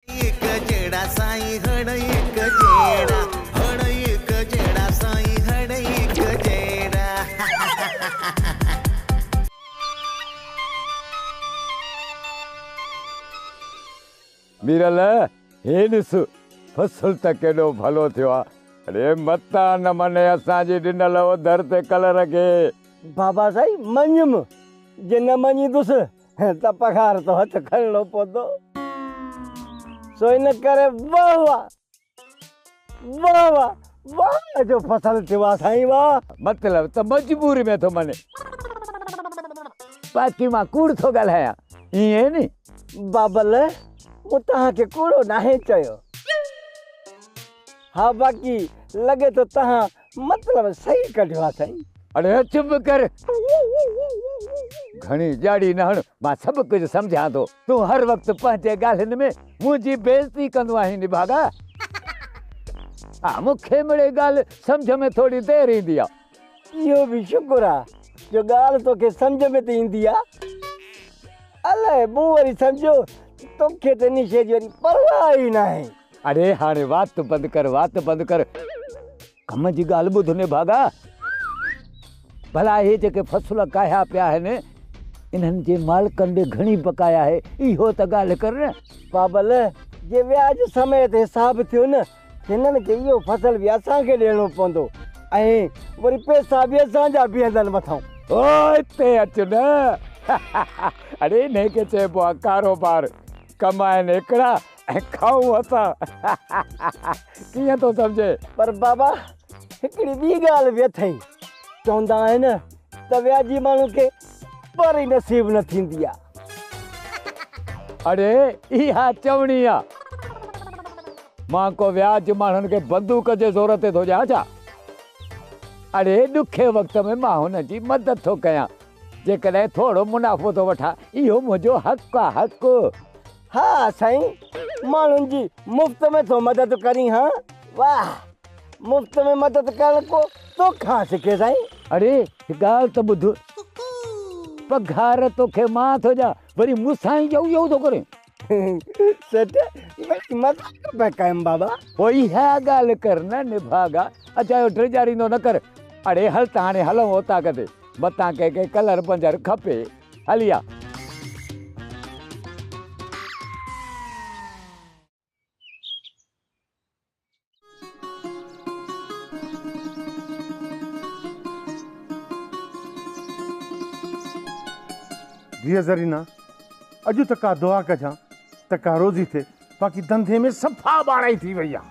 هڪ جهڙا سائين هڙ هڪ جهڙا هڙ هڪ جهڙا سائين هڙ هڪ جهڙا. ميرل هي ڏس فصل ته ڪيڏو ڀلو ٿيو آ. اڙي متان نه مڃي اسان جي ڏنل اوڌر تي ڪلر کي. بابا سائين مڃيم جي نه مڃيندس ته پگهار تون هٿ کڻڻو پوندو، سو ان ڪري واهه واهه، واهه واهه، واهه واهه جو فصل ٿيو آ سائين واهه. مطلب ته مجبوري ۾ ٿو مڃين. باقي مان ڪوڙ ٿو ڳالهايان، ائين ني؟ بابل، مون توهان کي ڪوڙو ناهي چيو. ها باقي لڳي ٿو توهان مطلب صحيح ڪڍيو آ سائين. اڙي چپ ڪر. گهڻي ڄاڙي نه هڻ مان سڀ ڪجهه سمجهان ٿو. تون هر وقت پنهنجي ڳالهين ۾ منهنجي بيعزتي ڪندو آهين نڀاڳا. ها مون کي مڙئي ڳالهه سمجهه ۾ ٿوري دير ايندي آ. اهو به شڪر آ جو ڳالهه توکي سمجهه ۾ ته ايندي آ. الائي مون وري سمجهيو ته توکي ته ان شيء جي وري پرواهه ئي ناهي. اڙي هاڻي وات بند ڪر وات بند ڪر ڪم جي ڳالهه ٻڌ نڀاڳا ڀلا هي جيڪي فصل ڪاهيا پيا آهن انهن جي مالڪن ڏي گهڻي بقايا آهي اهو ته ڳالهه ڪر نه. بابل جي وياج سميت حساب ٿيو نه هنن کي اهو فصل به اسان کي ڏيڻو پوندو ۽ وري پئسا به اسان جا بيهندن مٿان. او هتي اچ نه اڙي انهي کي چئبو آهي ڪاروبار ڪم آهن هڪڙا ۽ کائون اسان ڪيئن ٿو سمجهي. پر بابا هڪڙي ٻي ڳالهه به اٿئي چوندا آهن ته وياجي ماڻهو کي پر ئي نصيب نه ٿيندي آ. اڙي اها چوڻي آ مان ڪو وياج ماڻهن کي بندوق جي زور تي ٿو ڏيان ڇا؟ اڙي ڏکي وقت ۾ مان هنن جي مدد ٿو ڪيان جيڪڏهن ٿورو منافعو ٿو وٺان اهو منهنجو حق آ حق ها سائين ماڻهن جي مفت ۾ ٿو مدد ڪرين ها واه مفت ۾ مدد ڪرڻ ڪو توکان سکي سائين. اڙي هڪ ڳالهه ته ٻڌ پگهار توکي مان ٿو ڏيان وري مون سان ئي اهو اهو ٿو ڪرين. سيٺ ڀلي مذاق پيا ڪيم بابا. پوء اها ڳالهه ڪر نه نڀاڳا اجايو ڊيڄاريندو نه ڪر. اڙي هل ته هاڻي هلون اوطاق تي متان ڪنهن کي ڪلر پنجر کپي. هلي آ. ڌيء زرينه، اڄ ته ڪا دعا ڪجان ته ڪا روزي ٿئي، باقي ڌنڌي ۾ صفا ٻاڙائي ٿي وئي آ.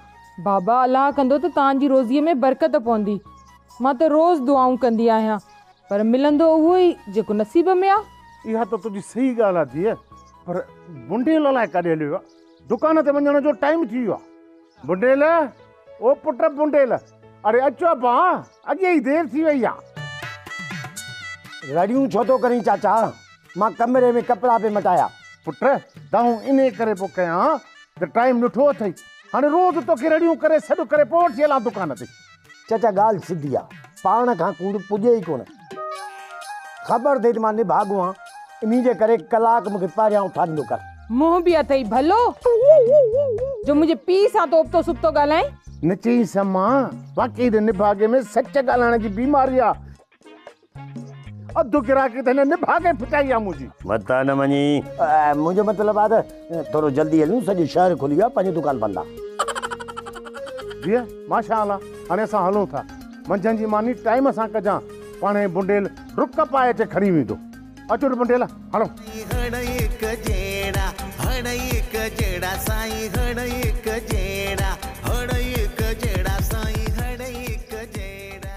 بابا، الله ڪندو ته توهان جي روزيء ۾ برڪت پوندي. مان ته روز دعائون ڪندي آهيان، پر ملندو اهو ئي جيڪو نصيب ۾ آ. اها ته تنهنجي صحيح ڳالهه آ ڌيء. پر بنڊيل الائي ڪاڏي هليو ويو آ. دڪان تي وڃڻ جو ٽائيم ٿي ويو آ. بنڊيل! او پٽ بنڊيل! اڙي اچ ابا، اڳيئي ئي دير ٿي وئي آ. رڙيون ڇو ٿو ڪرين چاچا؟ مان ڪمري ۾ ڪپڙا پئي مٽايا. پٽ! دانهون انهي ڪري پيو ڪيان ته ٽائيم ڏٺو اٿئي. هاڻي روز توکي رڙيون ڪري سڏ ڪري پوء وٺي هلان دڪان تي. چچا ڳالهه سڌي آ. پاڻ کان ڪوڙ پڄي ئي ڪونه. خبر اٿئي ته مان نڀاڳو آهيان. انهي جي ڪري ڪلاڪ مون کي پهريان اٿاريندو ڪر. منهن به اٿئي ڀلو جو منهنجي پيء سان تون ابتو سبتو ڳالهائين. نه چئينس امان. واقعي ته نڀاڳي ۾ سچ ڳالهائڻ جي بيماري آ. اڌ گراڪي ته هن نڀاڳي ڦٽائي آ منهنجي. متان نه مڃي. منهنجو مطلب آ ته ٿورو جلدي هليون سڄو شهر کلي ويو آ پنهنجو دڪان بند آ. جيء ماشاء الله هاڻي اسان هلون ٿا. منجهند جي ماني ٽائيم سان ڪجان پاڻهي بنڊيل ڊڪ پائي اچي کڻي ويندو. اچ ته بنڊيل هڻ. هڻ هڪ جهڙا هڻ هڪ جهڙا سائين هڻ هڪ جهڙا هڻ هڪ جهڙا سائين هڻ هڪ جهڙا.